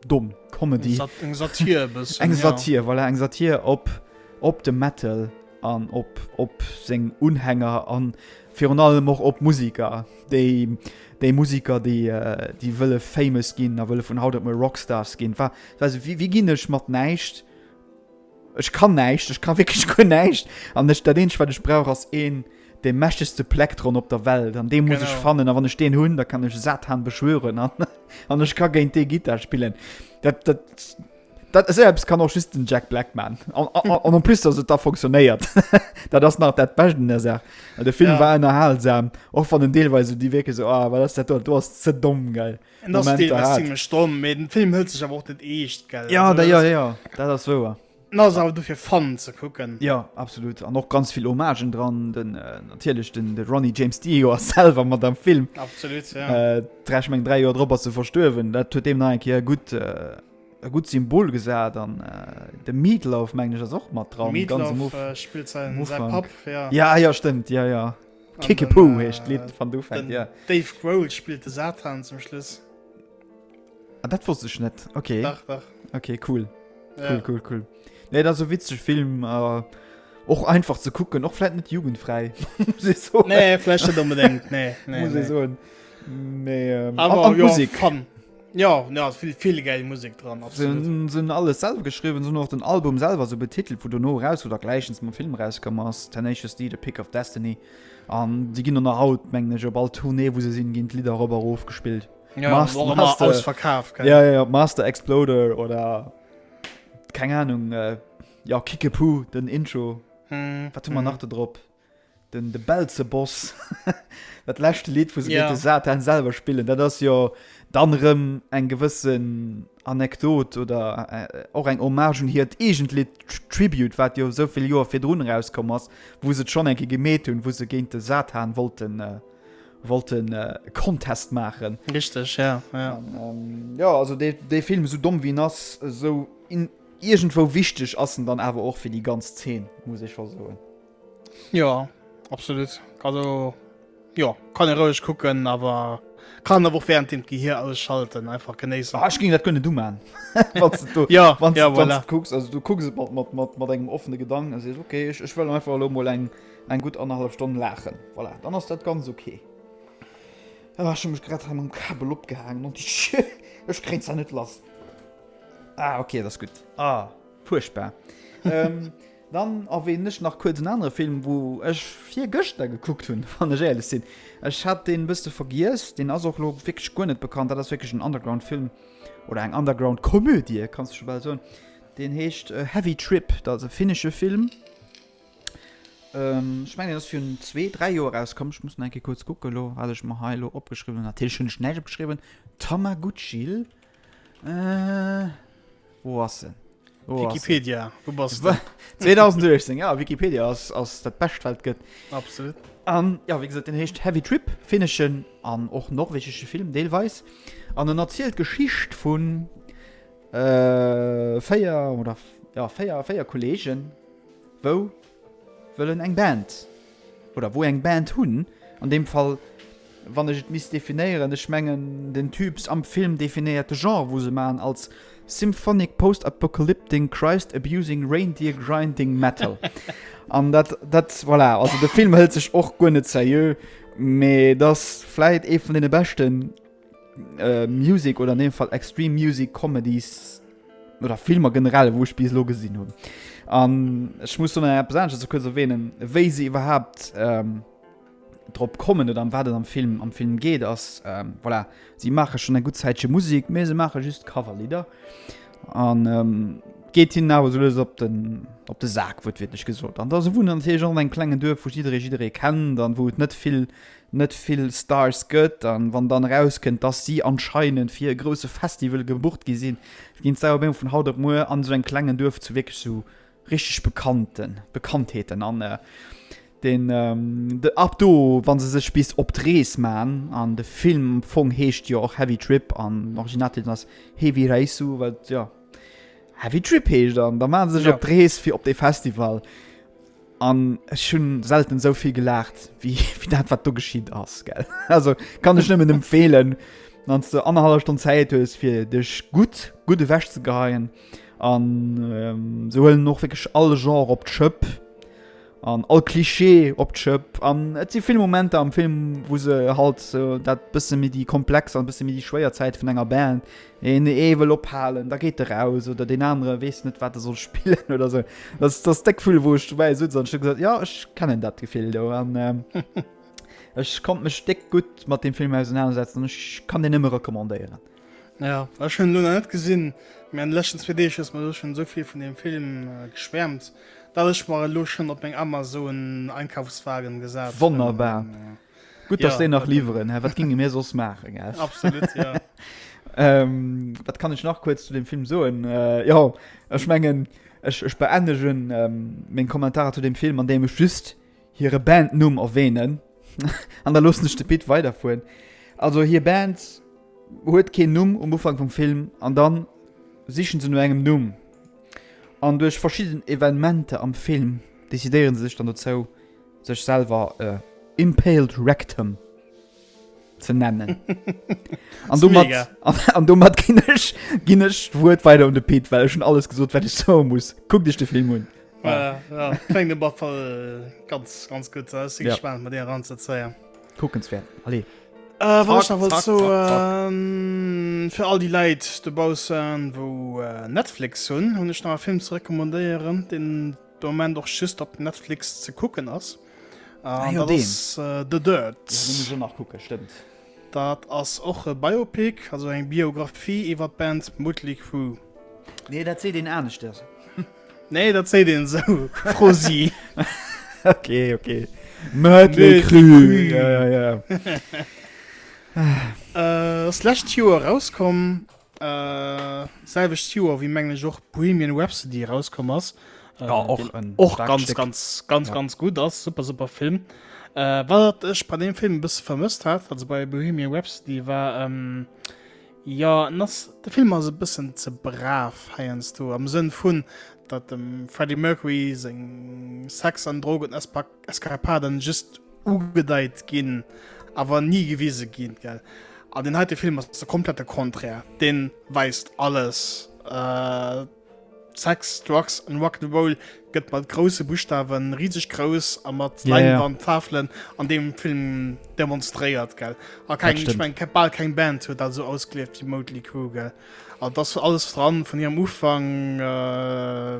domm Comedy, eng Satir e bëssen, eng Satir, voilà, eng Satir op op de Metal an op op seng Unhänger a virun allem och op Musiker, déi déi Musiker, déi déi wëlle famous ginn a wëlle vun haut op muer Rockstars ginn, wa wa wéi ginn ech mat näischt? Ech kann näischt, ech ka wierklech guer näischt an ech, dat eenzegt wat ech brauch ass een dee mächtegste Plektron op der Welt an dee muss ech fannen a wann ech deen hunn da kann ech Satan beschwören an an ech ka géint dee Gittar spillen. Dat dat dat esou eppes kann och just den Jack Black man an an en plus datt et da funktionéiert dat ass nach dat bescht un der Saach. De Film war ënnerhalsam och wann en deelweis esou déi wierke sou ah wat ass dat do, do ass ze domm gell. absolut an och ganz viel Hommagen dran den äh, natürlich den de Ronnie James Dio selber mat am Film absolut, ja. äh, dresch meng drei Joer drop ze verstöwen dat tut dem ein hier gut äh, e gut Symbol gesat an äh, de Meatlauf mengg ass och mat dran äh, ja ja stimmt ja ja Kickapoo heescht d'Lidd van do fänkt ja. Dave Grohl spillt de Satan zum Schluss. Ah, dat wosst ech net okay. Dach, dach. okay cool. Ja. cool cool cool nee da so witzeg Film äh, och einfach ze kucken och vielleicht net jugendfrei so, nee, nee, nee. Muss nee. So. Mehr, ähm, aber, aber ja, Musik kann Jo jo ass vill vill geil Musek dran absolut. Sinn sinn alles selwer geschriwwen, sinn och den Album selwer esou betitelt wou dono eraus oder gläichens mam Film erauskomm ass, Tenacious D, The Pick of Destiny an déi ginn och nach haut mengen ech op all Tournée wou se sinn ginn d'Lidder erop a rof gespillt. Jo jo ass och ëmmer ausverkaf gell. Ja ja Master Exploder oder keng Ahnung jo Kickapoo den Intro wat hu mer nach do drop? Den De Belzeboss, dat leschte Lidd, wou se géint de Satan selwer spillen, dat ass jo dann erëm eng gewëssen Anekdot oder och eng Hommage un hiert eegent Lidd Tribute, wat jo esou vill Joer virdrun erauskomm ass, wou se et schonn eng Kéier gemeet hunn, wou se géint de Satan wollten wollten e Contest maachen. Richteg, jo, jo. Jo, also dee Film, esou domm wéi en ass, esou iergendwou wichteg ass en dann awer och fir déi ganz Zeen, muss ee scho soen. Jo absolut also jo kann e roueg kucken awer kann der woch während dem Gehir ausschalten einfach genéissen. Ah, ich ging dat gönne du man ja wann ja, voilà. kucks also du kucks mat mat mat mat engem offene gedanken as ist okay ich, ich well einfach lo mo eng eng gut anderthalb stonn lachen voilà dann ass dat ganz okay da war schon mech grad han um kabel opgehangen und ich ich kre ze net lass ah okay das gut ah furchtbar ähm, Dann erwähnen ech nach kuerz en anere Film, wou ech virgëschter gekuckt hunn, wann ech éierlech sinn. Ech hat deen e bësse vergiess. Deen ass och elo wierklech guer net bekannt. Dat ass wierklech en Underground-Film oder eng Underground-Komödie, kanns de scho bal soen. Deen heescht Heavy Trip. Dat ass e finnesche Film. Ech mengen, deen ass virun zwee, dräi Joer erauskomm. Ech muss nach eng Kéier kuerz kucken elo, wat ech mer hei elo opgeschriwwen hunn. Natierlech hunn ech näischt opgeschriwwen. Tamaguchil, Äh, wo ass en? Wikipedia wo bas de? 2018 ja Wikipedia ass ass dat bescht Welt gëtt. Absolut. Um, ja wie gesagt, den hecht Heavy Trip finnischen an och norwegsche Film deelweis an den erzielt Geschicht vun äh, feier oder ja feier feier Kollegen wou Wëllen eng Band oder wou eng Band hunn an deem Fall wann ech et misst definéieren, ech mengen den Typs am Film definéiert de Genre wou se maachen als Symphonic Post-Apocalypting Christ Abusing Reindeer Grinding Metal an dat dat voilà also de Film hëlt sech och guer net seriö mee et ass vläit ee vun deene beschten Music oder an dem Fall Extreme Music Comedies oder Filmer generell wou ech bis lo gesinn hunn. An ech muss hun App Sanches ze kuerz erwähnen, wéi se iwwerhaapt ähm, drop kommen oder am wat et am Film am Film geet ass ähm, voilà, si maache schon eng gutt Zäitche Musik, mee se maache just Coverlidder an ähm, geet hinnen awer esou lues op den op de Sak wuertwiertlech gesot. An da se wunnen natierlech och an engem klengen Duerf wou jidderee jidderee kennt an wou et net vill net vill Stars gëtt an wann dann erauskënnt, dass si anscheinend fir e grousse Festival gebucht gi sinn, ginn se op eemol vun haut op muer an esou engem klengen Duerf zu wierklech esou richteg Bekannten, Bekanntheeten an den ab do, wa se sech bis op d'Rees maachen an de Film am Fong heescht jo och Heavy Trip an den Originaltitel ass Heavy Reisu, well et jo Heavy Trip heescht an da maache se sech op d'Rees fir op dee Festival. An ech hunn selten esou vill gelaacht wéi dat wat do geschitt ass gell. Also kann ech nëmmen empfeelen wann du anerhalb Stonn Zäit hues fir dech gutt gutt ewech ze geheien an ähm, se huelen och wéckeg all Genre op d'Schëpp an all Klischee op d'Schëpp an et si vill Momenter am Film wou se halt dat bësse méi déi komplex an bësse méi déi schwéier Zäit vun enger Band Deen ee wëll ophalen, da geet e raus, oder deen anere weess net, wat e soll spillen oder esou. Dat ass dat Gefill, wou ech dobäi sëtz an ech hu gesot, jo, ech kennen dat Gefill do. An ech konnt mech déck gutt mat deem Film ausenanersetzen an ech kann deen nëmme recommandéieren. Ja, ech hunn elo nach net gesinn, mee an de leschten zwee Deeg hues mer elo schonn esou vill vun deem Film geschwäermt, datt ech mer elo schonn op meng Amazon-Einkaufswagen gesat hunn. Wonnerbar! Gutt dass déi nach liwweren hä, wat géinge mir soss maachen gell. Absolut jo. Wat kann ech nach kuerz zu dem Film soen, jo ech mengen ech beendege meng Kommentarer zu dem Film an deem ech just hire Bandnumm erwänen an da loossen ech de Pit weiderfueren. Also hir Band huet keen Numm um Ufank vum Film an dann sichen se no engem Numm an duerch verschidden Evenementer am Film decidéiere se sech dann dozou, sech selwer e impaled rectum ze nennen. an domat ginn ech ginn ech d'Wuert weider un de Pit, well ech schon alles gesot, wat ech soe muss. Kuck dech de Film un. Kléngt op alle Fall ganz, ganz gutt. Ech si gespaant, mer deen eranzezéien. Kuckenswäert, allez. Wat ech nach wollt soen, Fir all déi Leit dobaussen, wou Netflix hunn, hunn ech nach e Film ze recommandéieren, deen. De Moment och just op Netflix ze kucken ass de Dirt nach kucke stëmmt. Dat ass och e Biopic, also eng Biografie iwwer d'Band Motley Crew. Nee, dat seet een aneschters. Nee, dat seet een esou. Frou si. Okay, okay. Motley Crew, jo, jo, jo. Ass d'lescht Joer erauskomm. Selwecht Joer wéi mengen ech och Bohemian Rhapsody erauskomm ass. Äh, ja, och en och ganz, ganz ganz ja. ganz gut ass super super Film äh, wat ech bei dem Film bis vermisst hat also bei Bohemian Webs die war ähm, ja nass der Film as bisssen ze brav heiers du am Sinn vun dat dem Freddie Mercury seng Sex an Drogen es pack Eskapaden just ugedeit ginn, awer nie gewise ginn, gell? An den heite Film ass der komplette Konträr. Den weist alles. Äh, Sex, Drugs an Rock'n'Roll gëtt mat grouse Buschtawen, riseg grouss a mat Ja, ja. Leinwandtafelen an deem Film demonstréiert, gell? A keng, stimmt. ech meng, ke- bal keng Band huet dat esou ausgelieft wéi Mötley Crüe, gell? An et ass alles dran, vun hirem Ufank, äh,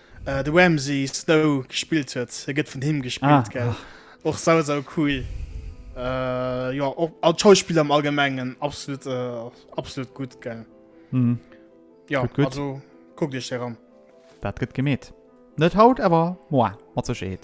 Äh, de Ramsey Snow gespillt huet. E gëtt vun him gespillt, ah. gell? Och sau, sau cool. Äh, ja, och all Schauspieler am Allgemengen absolut, äh, absolut gut, gell? Mhm. Ja, gut, gut. also, guck dich dir an. Dat gëtt gemet. Net haut, awer moa, mat Sëcherheet.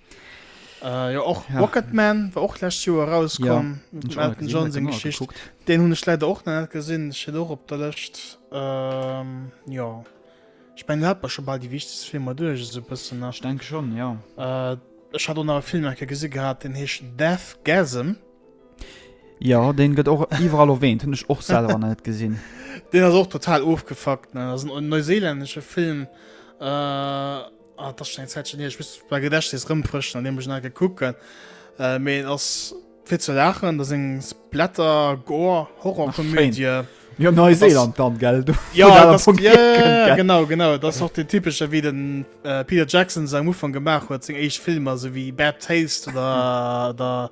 Äh, jo och Rocketman war och d'lescht Joer erauskomm, den Elton John seng Geschicht. Deen hunn ech leider och nach net gesinn, ech hätt och op der Lëscht. Jo, ech mengen, do hat mer scho bal déi wichtegst Filmer duerch, esou e bëssen, ne? Ech denke schonn, jo. Ech hat och nach e Film eng Kéier gesi gehat, deen heescht Deathgasm. Jo, deen gëtt och iwwerall erwähnt, hunn ech och selwer nach net gesinn. Deen ass och total ofgefuckt, ne? Ass en neusélännesche Film. Ah, das schon ein Zeitchen her. Ich muss bei Gedächtnis rumfrischen, an dem ich nach gucken. Äh, mir ass viel zu lachen, das sind Splatter, Gore, Horrorkomödie. Ach, ja, Neuseeland dann, gell? Du, ja, das, ja, ja, ja, genau, genau. Das ist auch der typische, wie den äh, Peter Jackson seinen Anfang gemacht hat, seine ersten Filme, so wie Bad Taste oder, oder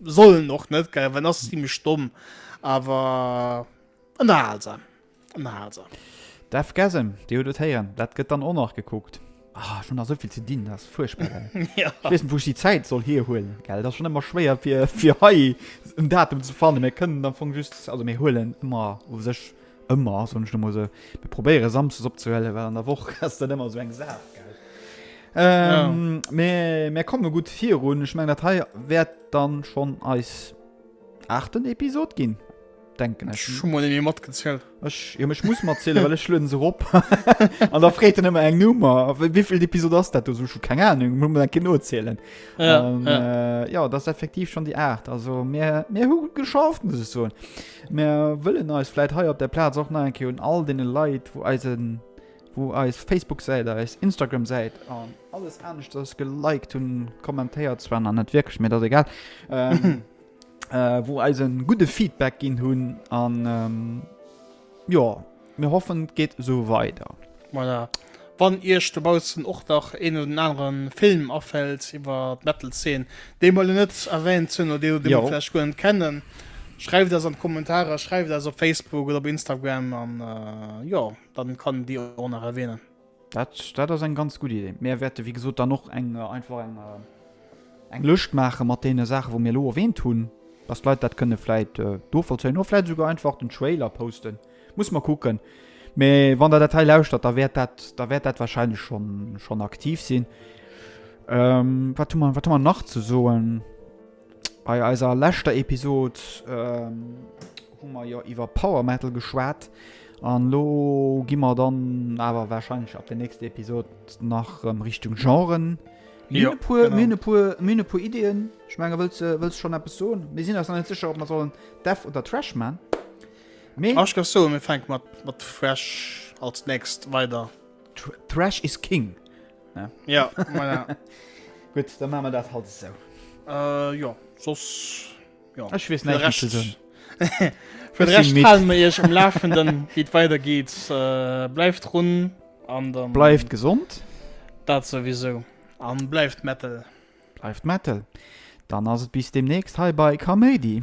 Sollen och net ge wenn ass die mech domm awer ënnerhalsam ënnerhalsam. Def Gesm, Dir hutt et héieren, dat gëtt dann och nach gekuckt. Ah, ech hunn nach esouvill ze dinn, dat ass fuerchtbar. ja. Ech weess net, wou ech déi Zäit soll hierhuelen. Gell, dat ass schonn ëmmer schwéier, fir, fir hei en Datum ze fannen. Mir kënnen am Fong just, also mir huelen ëmmer u sech Ëmmer, soen ech lo mol esou. Mir probéiere samschdes opzehuelen, well an der Woch ass dat ëmmer esou eng Saach. Ähm, yeah. Mä komme gutt virun. Ech meng dat hei wäert dann schonn eis achten Episod ginn denken ech. Schu mal mir mat gezielt. Ech ja, mech muss mat ziele well ech schlëden se op. An der freet en ëmmer eng Nummer. Wéivill d'Episod ass dat so schu keng Ahnung mu mer gen nozielen. Ja, ähm, ja. Äh, ja dat effektiv schon déi 8. Also mir mir hu geschafft muss ech soen. Mär wëllen eis vläit hei op der Plaz och nach eng Kéier un all deene Leit, wou eisen, wou eis Facebook-Säit, eis Instagram-Säit an alles aneschters geliked hunn, kommentéiert zwar nach net wierklech, mee dat ass egal, wou eis en gudde Feedback ginn hunn an jo. Mir hoffen et geet esou weider. Voilà. Wann iech dobaussen och nach een oder den aneren Film afällt iwwer d'Metal Szene deen mer elo net erwähnt hunn, oder deen mer vläicht guer net kennen, schreift eis an d'Kommentarer, schreift eis op Facebook oder op Instagram an jo dann kann een déi och nach erwähnen. Dat, dat ass eng ganz gutt Idee. Mir wäerte wéi gesot dann och eng einfach eng, eng Lëscht maache mat deene Saache wou mir elo erwähnt hunn, datt d'Leit dat kënne vläit novollzéien oder vläit esouguer einfach den Trailer posten. Muss mer kucken. Mee wann der dat hei lauschtert, da wäert dat, da wäert dat warscheinlech schonn, schonn aktiv sinn. Wat hu mer, wat hu mer nach ze soen? Bei eiser leschter Episod ähm, hu mer jo iwwer Power Metal geschwat. An lo gi mer dann awer wahrscheinlich ab der nächste Episode nach ähm, Richtung Genren. Mir ja, pur, genau. mir pur, mir pur Ideen. Ich meine, willst, äh, willst schon etwas so? Wir sind uns noch nicht sicher, ob wir sollen Death oder Trash machen. Mir Ach, ich so, wir fangen mit, mit Fresh als nächstes weiter. Tr Trash is King. Ne? Ja, voilà. Gut, dann machen wir das halt so. Äh, ja, sos. Ja. Ich weiß nicht, was zu sagen. Für den Rest halten wir euch am Laufenden, wie es weitergeht. Äh, bleibt run. Und dann bleibt gesund. Das sowieso. Und bleibt Metal. Bleibt Metal. Dann ist es bis demnächst hier bei Comedy.